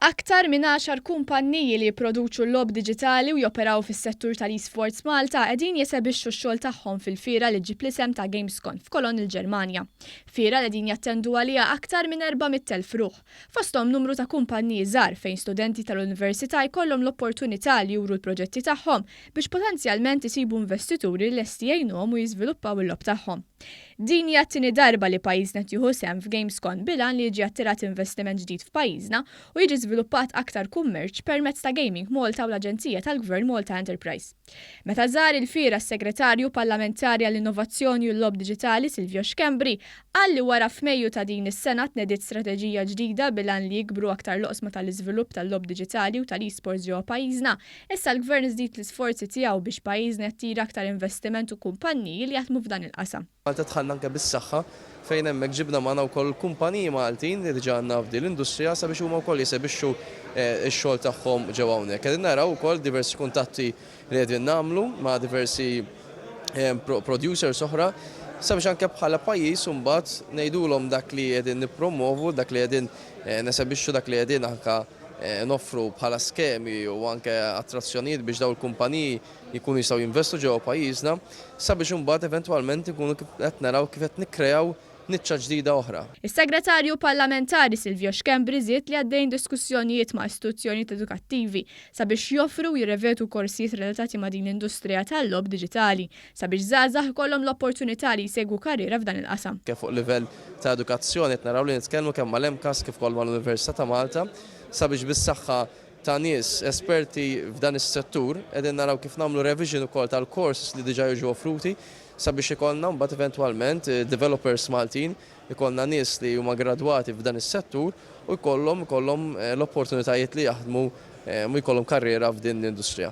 Aktar minn għaxar kumpanniji li jipproduċu logħob diġitali u joperaw fis-settur tal-eSports Malta qegħdin jesebixxu x-xogħol tagħhom fil-fiera li ġġib l-isem ta' Gamescon f'Cologne il-Ġermanja. Fiera li qegħdin jattendu għaliha aktar minn 400,000 ruħ. fosthom numru ta' kumpanniji żgħar fejn studenti tal-università jkollhom l-opportunità li juru l-proġetti tagħhom biex potenzjalment isibu investituri lesti jgħinuhom u jiżviluppaw il-logħob tagħhom. Din hija t-tieni darba li pajjiżna qed jieħu sehem f'GamesCon bil-għan li jiġi attirat investiment ġdid f'pajjiżna u jiġi żviluppat aktar kummerċ permezz ta' Gaming Malta u l-Aġenzija tal-Gvern Malta Enterprise. Meta żar il-Fiera s-Segretarju Parlamentari għall-Innovazzjoni u l-Logħob Diġitali Silvio Schembri qal li wara f'Mejju ta' din is-sena tnediet strateġija ġdida bil-għan li jikbru aktar l-oqsma tal-iżvilupp tal-logħob diġitali u tal-eSports ġewwa pajjiżna, issa l-Gvern żdied l-isforzi tiegħu biex pajjiżna jattira aktar investiment u kumpanniji li jaħdmu f'dan il-qasam. Malta dħalna anke bis-saħħa fejn hemmhekk ġibna magħna wkoll kumpaniji Maltin li diġà għandna f'din l-industrija sabiex huma wkoll jesebixxu x-xogħol tagħhom ġewwa hawnhekk. Qegħdin naraw ukoll diversi kuntatti li qegħdin nagħmlu ma' diversi producers oħra sabiex anke bħala pajjiż imbagħad ngħidulhom dak li qegħdin nippromwovu, dak li qegħdin nesebixxu, dak li qegħdin anke noffru bħala skemi u anke attrazzjonijiet biex dawn il-kumpaniji jkunu jistgħu jinvestu ġewwa pajjiżna sabiex imbagħad eventwalment inkunu qed naraw kif qed nikkreaw niċċa ġdida oħra. Is-Segretarju Parlamentari Silvio Schembri żied li għaddejjin diskussjonijiet ma' istituzzjonijiet edukattivi sabiex joffru u jirrevedu korsijiet relatati ma' din l-industrija tal-logħob diġitali sabiex żgħażagħ ikollhom l-opportunità li jsegwu karriera f'dan il-qasam. Kemm fuq livell ta' edukazzjoni qed naraw li nitkellmu kemm mal-MCAST kif ukoll mal-Università ta' Malta sabiex bis-saħħa ta' nies esperti f'dan is-settur, qegħdin naraw kif nagħmlu revision ukoll tal-courses li diġà jiġu offruti sabiex ikollna mbagħad eventwalment developers Maltin, ikollna nies li huma gradwati f'dan is-settur u jkollhom ikollhom l-opportunitajiet li jaħdmu u jkollhom karriera f'din l-industrija.